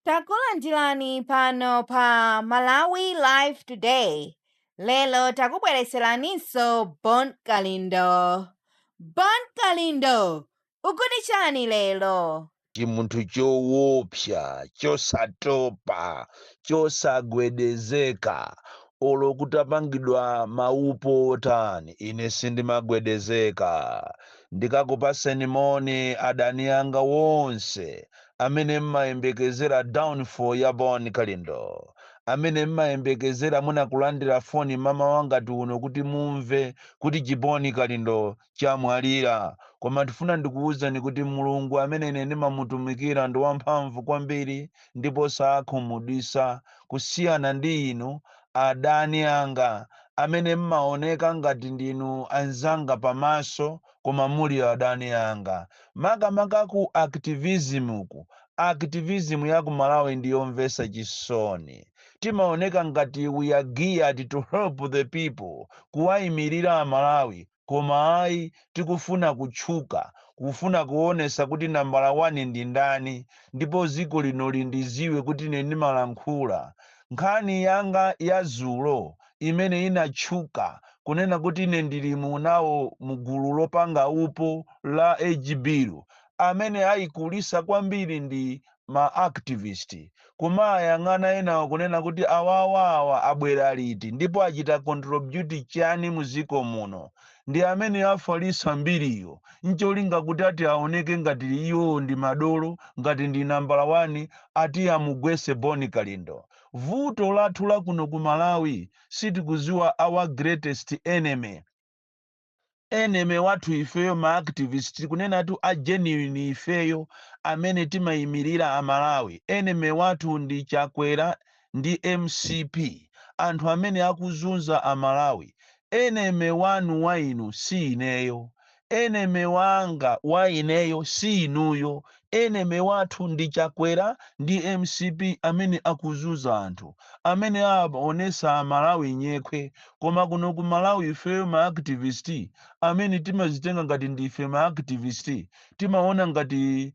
Takulandirani pano pa Malawi Live Today. Lero takubweretseraninso Bon Kalindo. Bon Kalindo, ukuti chani lero? chimunthu choopsa chosatopa chosagwedezeka olo kutapangidwa maupo otani ine sindimagwedezeka ndikakupaseni moni adani anga wonse amene mmayembekezera downfall ya Bon Kalindo, amene mmayembekezera mwina kulandira foni mamawa ngati uno kuti mumve kuti chiboni Kalindo chamwalira, koma ndifuna ndikuwuzeni kuti Mulungu amene ine ndimamutumikira ndi wamphamvu kwambiri ndipo sakhumudwisa kusiyana ndi inu adani anga amene mmawoneka ngati ndinu anzanga pamaso koma muli adani anga makamaka ku activism ku activism ya ku Malawi ndi yomvesa chisoni timaoneka ngati we are geared to help the people kuwaimilira a Malawi koma ayi tikufuna kutchuka kufuna kuonesa kuti nambala one ndi ndani ndipo ziko lino lindiziwe kuti ine ndimalankhula nkhani yanga ya zulo imene inatchuka kunena kuti ine ndili mu nawo mu gulu lopanga upo la age bill amene ayikulisa kwambiri ndi ma activist kumaayang'ana enawo kunena kuti awawa awa abwera liti ndipo achita contribute chani mu ziko muno ndi amene afalisa mbiriyo ncholinga kuti ati aoneke ngati iwo ndi madolo ngati ndi nambala wani ati amugwese Bon Kalindo vuto lathu lakuno ku malawi sitikuziwa our greatest enemy enemy wathu ifeyo ma activist kunenatu a genuine ifeyo amene timayimilira a malawi enemy wathu ndi chakwera ndi mcp anthu amene akuzunza a malawi enemy wanu wa inu si ineyo Enemy wanga wa ineyo si inuyo, enemy wathu ndi Chakwera ndi mcp amene akuzunza anthu, amene aonesa amalawi nyekhwe, koma kuno ku Malawi ifeyo ma activist amene timazitenga ngati ndife ma activist timaona ngati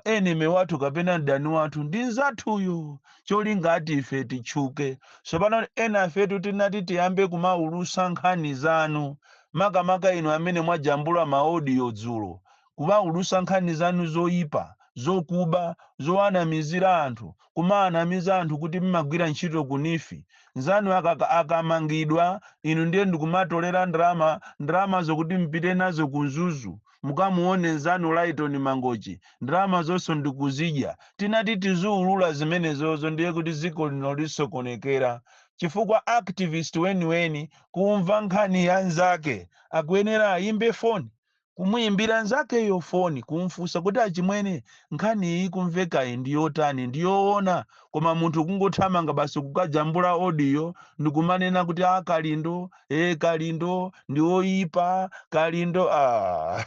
enemy wathu kapena mdani wathu ndi mzathuyo cholinga ati ife titchuke tsopano ena afetu tinati tiyambe kumaulusa nkhani zanu makamaka inu amene mwajambula ma audio dzulo kumaulusa nkhani zanu zoyipa zokuba zowanamizira anthu kumawanamiza anthu kuti mmagwira ntchito ku NEEF nzanu akamangidwa inu ndiye ndikumatolera ndalama ndalamazo kuti mpite nazo ku mzuzu mukamuone nzanu Lyton Mangochi ndalama zonso ndikuzidya tinati tizuulula zimenezozo ndiye kuti dziko lino lisokonekera chifukwa activist weniweni kumva nkhani ya nzake akuyenera ayimbe foni kumuyimbira nzakeyo foni kumfunsa kuti achimwene nkhani iyi ikumvekayi ndiyotani ndiyoona koma munthu kungothamanga basi kukajambula audio ndikumanena kuti a Kalindo e kalindo ndi oyipa kalindo ah,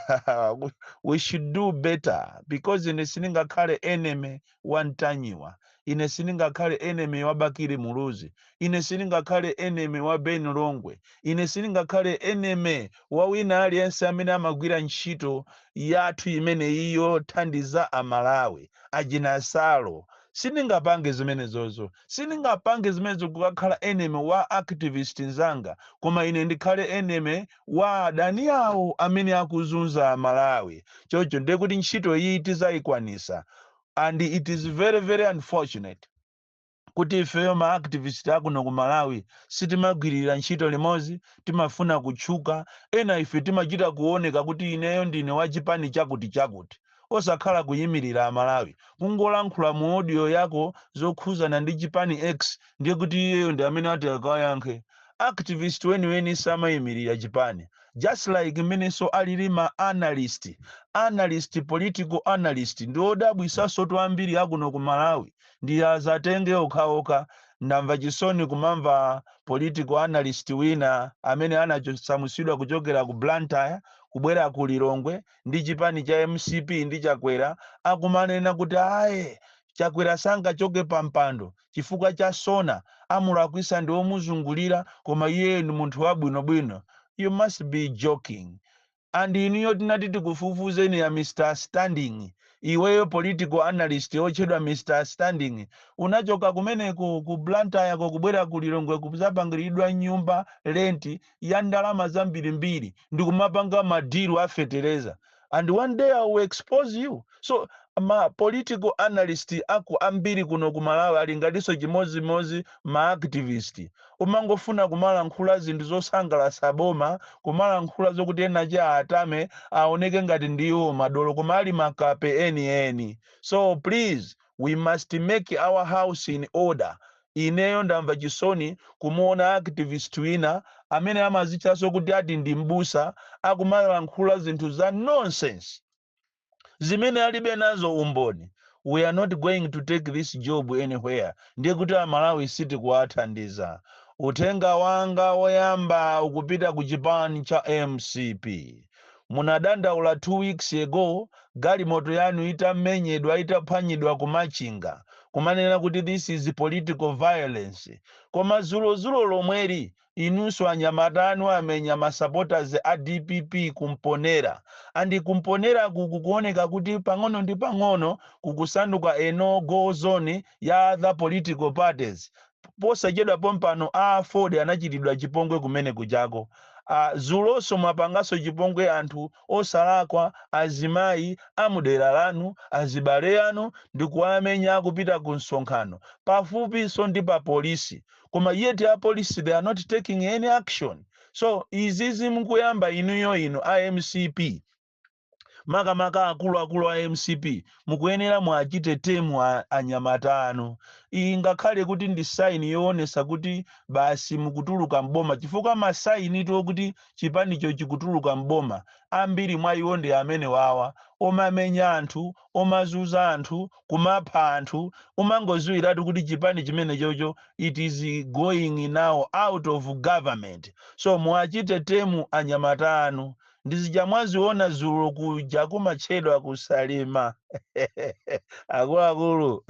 we- we should do better because ine sindingakhale enemy wa ntanyiwa ine sindingakhale enemy wa bakili muluzi ine sindingakhale enemy wa ben longwe ine sindingakhale enemy wa wina aliyense amene amagwira ntchito yathu imeneyi yothandiza amalawi ajinasalo sindingapange zimenezozo Sindingapange zimenezo kukakhala enemy wa activist nzanga koma ine ndikhale enemy wa adani awo amene akuzunza a Malawi. Chocho ndiye kuti ntchito iyi tizaikwanisa and it is very very unfortunate kuti ifeyo ma activist akuno ku Malawi sitimagwilira ntchito limodzi, timafuna kutchuka, ena ife timachita kuoneka kuti ineyo ndine wa chipani chakuti chakuti. osakhala kuyimilira amalawi kungolankhula mu audio yako zokhuzana ndi chipani X ndiye kuti iyeyo ndi amene ati akayankhe activist weniweni samayimilira chipani just like mmenenso alili ma analyst analyst political analyst ndi odabwisasotu ambiri akuno ku malawi ndi azatenge okhaokha ndamva chisoni kumamva political analyst wina amene anachosamutsidwa kuchokera ku blantyre kubwera ku lilongwe ndi chipani cha mcp ndi Chakwera akumanena kuti aye Chakwera sangachoke pa mpando chifukwa cha Sona amulakwisa ndi omuzungulira koma iyeyo ndi munthu wabwino bwino you must be joking and inuyo tinati tikufufuzeni a Mr Standing iweyo political analyst otchedwa Mr Standing unachoka kumeneko ku Blantyreko kubwera ku Lilongwe kuzapangilidwa nyumba lenti ya ndalama zambirimbiri ndikumapanga ma deal a fetereza and one day I will expose you so ma political analyst aku ambiri kuno ku malawi ali ngatinso chimodzimodzi ma activist kumangofuna kumalankhula zinthu zosangalatsa boma kumalankhula zokuti ena achiatame aoneke ngati ndiwo madolo koma ali makape enieni so please we must make our house in order Ineyo ndamva chisoni kumuona activist wina amene amazitchaso kuti ati ndi m'busa akumalankhula zinthu za nonsense zimene alibe nazo umboni. We are not going to take this job anywhere ndiye kuti a Malawi sitikuwathandiza. Uthenga wanga woyamba ukupita ku chipani cha mcp. munadandaula 2 weeks ago galimoto yanu itamenyedwa itaphwanyidwa ku Machinga kumanena kuti this is political violence koma zulozulo lomweli inunso anyamata anu amenya ma supporters a dpp ku Mponela and ku Mponelaku kukuoneka kuti pang'ono ndi pang'ono kukusanduka a no go zone ya other political parties posachedwa pompano a aford anachitidwa chipongwe kumene kujako ah zuloso mwapangaso chipongwe anthu osalakwa azimayi amudera lanu azibale anu ndikuwamenya akupita ku msonkhano pafupi so ndi pa police koma yet a police they are not taking any action so izizi mukuyamba inuyo inu a mcp makamaka akuluakulu a mcp mukuyenera muachite temu a- anyamata anu ingakhale kuti ndi saini yoonesa kuti basi mukutuluka mboma chifukwa masainitu okuti chipanicho chikutuluka mboma ambiri mwa iwo ndi amene wawa omamenya anthu omazuza anthu kumapha anthu umangoziwiratu kuti chipani chimenechocho it is going now out of government so muachite temu anyamata anu ndizija mwaziona zulo kuja kumatchedwa kusalima akuluakulu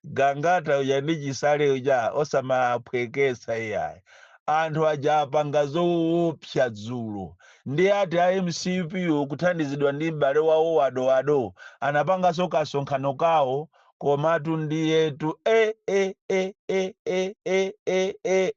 gangata uja ndi chisale uja osamaphwekesa iyayi anthu aja apanga zowopsa dzulo ndi ati a mcp kuthandizidwa ndi m'bale wawo wa Dowayo anapanganso kasonkhano kawo komatu ndiyetu e e e e e e e e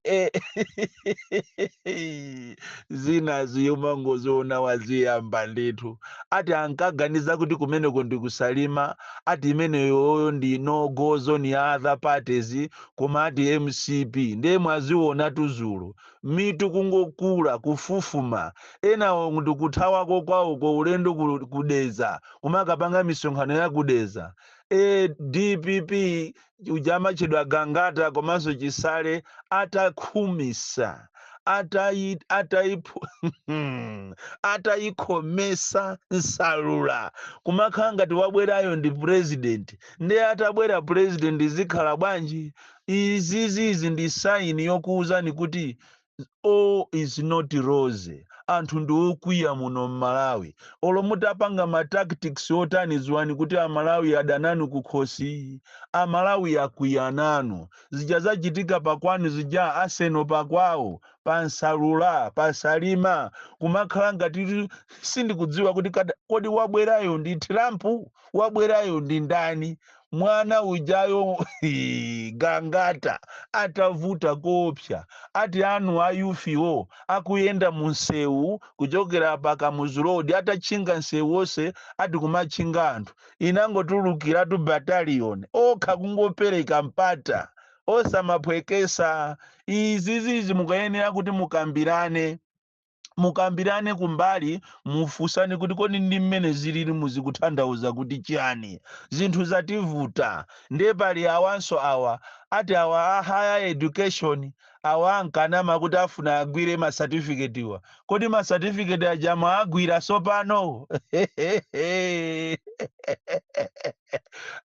e zina ziyuma ngoziona waziyamba ndithu ati ankaganiza kuti kumeneko ndikusalima ati imeneyoyo ndi no go zone ya other parties koma ati mcp ndiye mwaziona tuzulu mitu kungokula, kufufuma, enawo ndikuthawako kwawoko ulendo ku, ku Dedza kumakapanga misonkhano ya ku Dedza. E, dpp uja amatchedwa Gangata komanso Chisale atakhumisa atayi atayiphu atayikhomesa nsalula kumakhala ngati wabwerayo ndi president ndiye atabwera president zikhala bwanji Izizizi ndi sign yokuwuzani kuti all is not rosy. Anthu ndi okwiya muno m'Malawi. Olo mutapanga ma tactics otani dziwani kuti a Malawi ada nanu kukhosi. A Malawi akwiya nanu. Zija zachitika pa kwanu zija Arsenal pa kwawo, pa Nsalula, pa Salima kumakhala ngati kuti sindikudziwa kuti kada, kodi wabwerayo ndi Trump? Wabwerayo ndi ndani? mwana ujayo hii, gangata atavuta koopsa ati anu a youth-wo akuyenda mu msewu kuchokera pa kamuzu road atatchinga msewu wonse ati kumatchinga anthu inangotulukiratu bataliyoni okha kungopereka mpata osamaphwekesa izizizi mukayenera kuti mukambirane mukambirane kumbali mufunsane kuti kodi ndi mmene zilili zikuthandauza kuti chiyani zinthu zativuta ndiye pali awanso awa ati awa a higher education awa ankanama kuti afuna agwire masatifiketiwa kodi masatifiketi aja mwaagwira sopano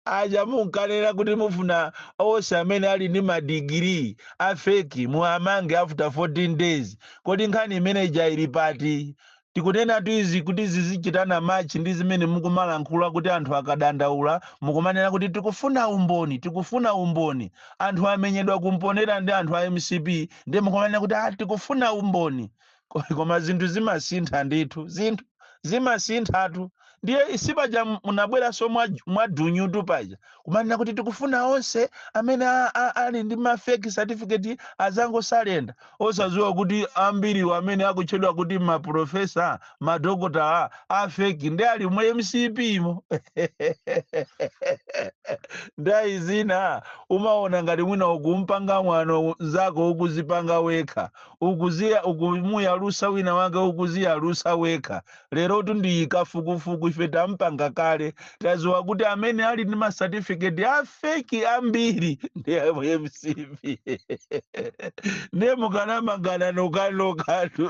aja munkanena kuti mufuna onse amene ali ndi madigiri a feki muwamange after 14 days kodi nkhani imene ija ili pati tikunenatu izi kuti zizichita machi ndi zimene mukumalankhula kuti anthu akadandaula mukumanena kuti tikufuna umboni tikufuna umboni anthu amenyedwa kumponera ndi anthu a mcp ndiye mukumanena kuti ah, tikufuna umboni Ko- koma zinthu zimasintha ndithu zinthu zimasinthatu ndiye sipaja m- munabweranso mwa- mwadunyutu paja kumanena kuti tikufuna onse amene a- a- ali ndi mafeki certificate azangosalenda osadziwa kuti ambiriwo amene akutchedwa kuti maprofesa madokotala afeki ndiye ali mu mcp mo ndayi zina umaona ngati mwina ukumpanga mwano mzako ukuzipanga wekha ukuziya ukumuyalusa wina wake ukuziyalusa wekha lerotu ndi kafukufuku ife tampanga kale taziwa kuti amene ali ndi masatifiketi afeki ambiri ndi a mcp ndiye mukanamangana nokanokatu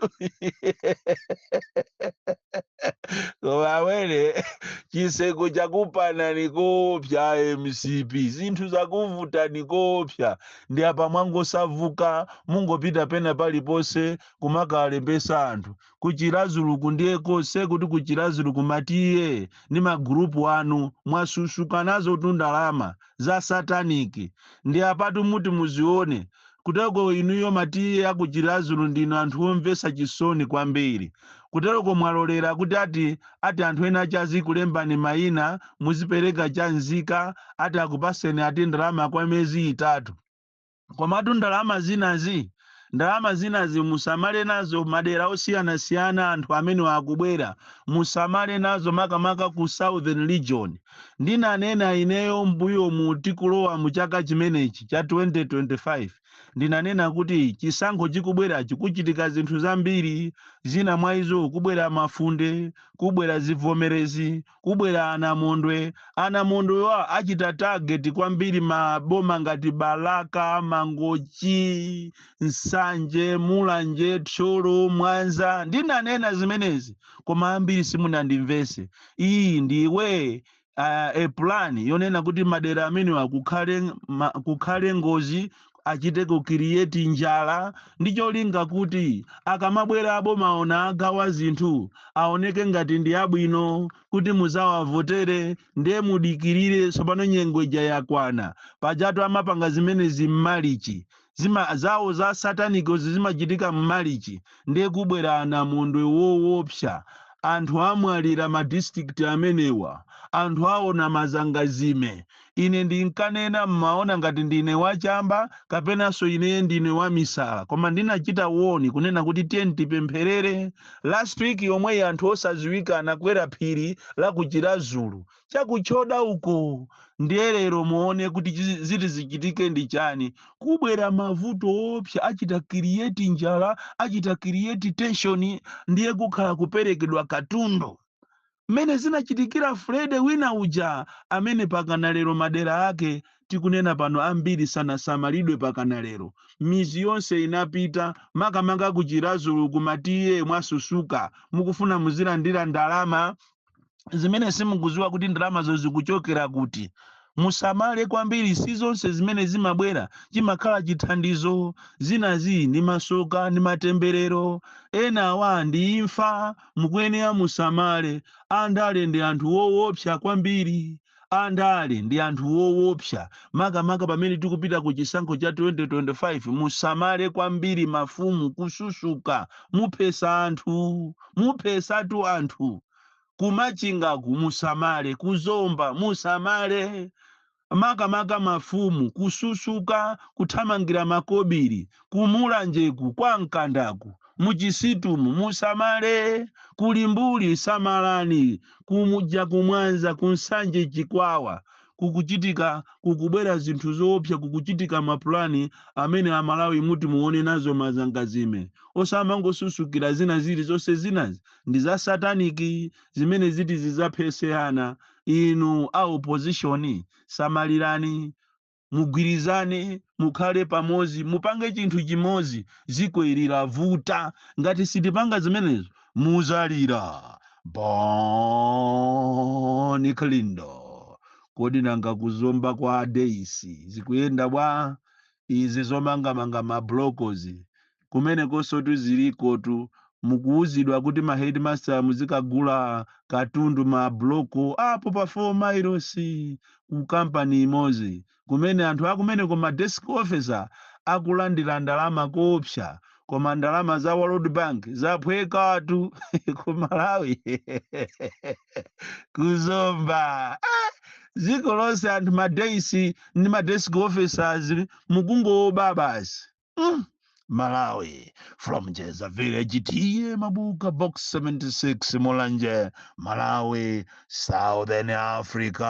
koma welewele chiseko chakupanani kopya mcp zinthu zakuvutani kopya ndi apa mwangosauka mungopita pena paliponse kumakalembesa anthu ku Chiradzuluku ndiye konse kuti ku Chiradzuluku ma TA ndi magurupu anu mwasusuka nazo tundalama za sataniki ndi apatu muti muzione kuteko inuyo ma TA aku Chiradzulu ndinu anthu omvesa chisoni kwambiri Kuteroko mwalolera kuti ati ati anthu ena ake azikulembani maina muzipereka chaunzika ati akupaseni ati ndalama kwa miyezi itatu. Komatu ndalama zinazi ndalama zinazi musamale nazo madera osiyanasiyana anthu amenewa akubwera musamale nazo makamaka ku southern region. Ndinanena ineyo mmbuyomu tikulowa mu chaka chimenechi cha 2025. Ndinanena kuti chisankho chikubwerachi kuchitika zinthu zambiri, zina mwa izo kubwera mafunde, kubwera zivomerezi, kubwera anamondwe. Anamondwewa achita target kwambiri maboma ngati Balaka, Mangochi, Nsanje, Mulanje, Thyolo, Mwanza. Ndinanena zimenezi koma ambiri simunandimvetse. Iyi ndiwe uh, a plan yonena kuti madera amenewa kukhale ng- ma, kukhale ngozi achite ku create njala ndi cholinga kuti akamabwera aboma ona agawa zinthu aoneke ngati ndi abwino kuti muzawavotere ndiye mudikirire tsopano nyengo ija yakwana pajatu amapanga zimenezi m'malichi zawo za satanic zimachitika mmalichi nde kubwera anamondwe wowopsa anthu amwalira ma district amenewa anthu aona mazangazime ine ndinkanena mmaona ngati ndine wachamba kapenanso ineye ndine wamisala koma ndinachita warn kunena kuti tiyeni tipempherere last week yomweyi anthu osaziwika anakwera phiri la ku chiradzulu chakuchoda uko ndiye lero muone kuti chizi- ziti zichitike ndi chani kubwera mavuto oopsa achita create njala achita create tension ndiye kukhala kuperekedwa katundu mmene zinachitikira Freddy wina uja amene pakana lero madera ake tikunena pano ambiri sanasamalidwe pakana lero mizi yonse inapita makamaka kuchirazulu kumatiye mwasusuka mukufuna muzilandira ndalama zimene simukuziwa kuti ndalamazo zikuchokera kuti musamale kwambiri si zonse zimene zimabwera chimakhala chithandizo zinazi ndi masoka ndi matemberero enawa ndi imfa mukuyenera musamale andale ndi anthu wowopsa kwambiri Andale ndi anthu owopsa makamaka pamene tikupita ku chisankho cha 2025 musamale kwambiri mafumu kususuka muphesa anthu muphesatu anthu ku machingaku musamale ku zomba musamale makamaka mafumu kususuka kuthamangira makobiri ku mulanjeku kwa mkandaku muchisitumu musamale kulimbuli samalani Kuja ku Mwanza ku Nsanje Chikwawa kukuchitika kukubwera zinthu zoopsa kukuchitika mapulani amene amalawi muti muone nazo mazangazime osamangosusukira zina zili zonse zinazi ndi za satanic zimene ziti zizaphese ana inu a opposition samalirani mugwirizane mukhale pamozi mupange chinthu chimozi dziko ili lavuta ngati sitipanga zimenezo muzalira Bon Kalindo kodi nanga kuzomba kwa a DC zikuyenda bwa izi zomangamanga mablokozi kumenekonsotu zilikotu mukuuzidwa kuti ma headmaster muzikagula katundu ma bloko apo pa 4 miles ku company imozi kumene anthu akumeneko ma desk officer akulandira ndalama koopsa koma ndalama za world bank zaphwekatu ku malawi kuzomba dziko lonse anthu ma dais ndi ma desk officers mukungoba basi mm. Malawi from Jeza Village tiye mabuka box 76 Mulanje Malawi Southern Africa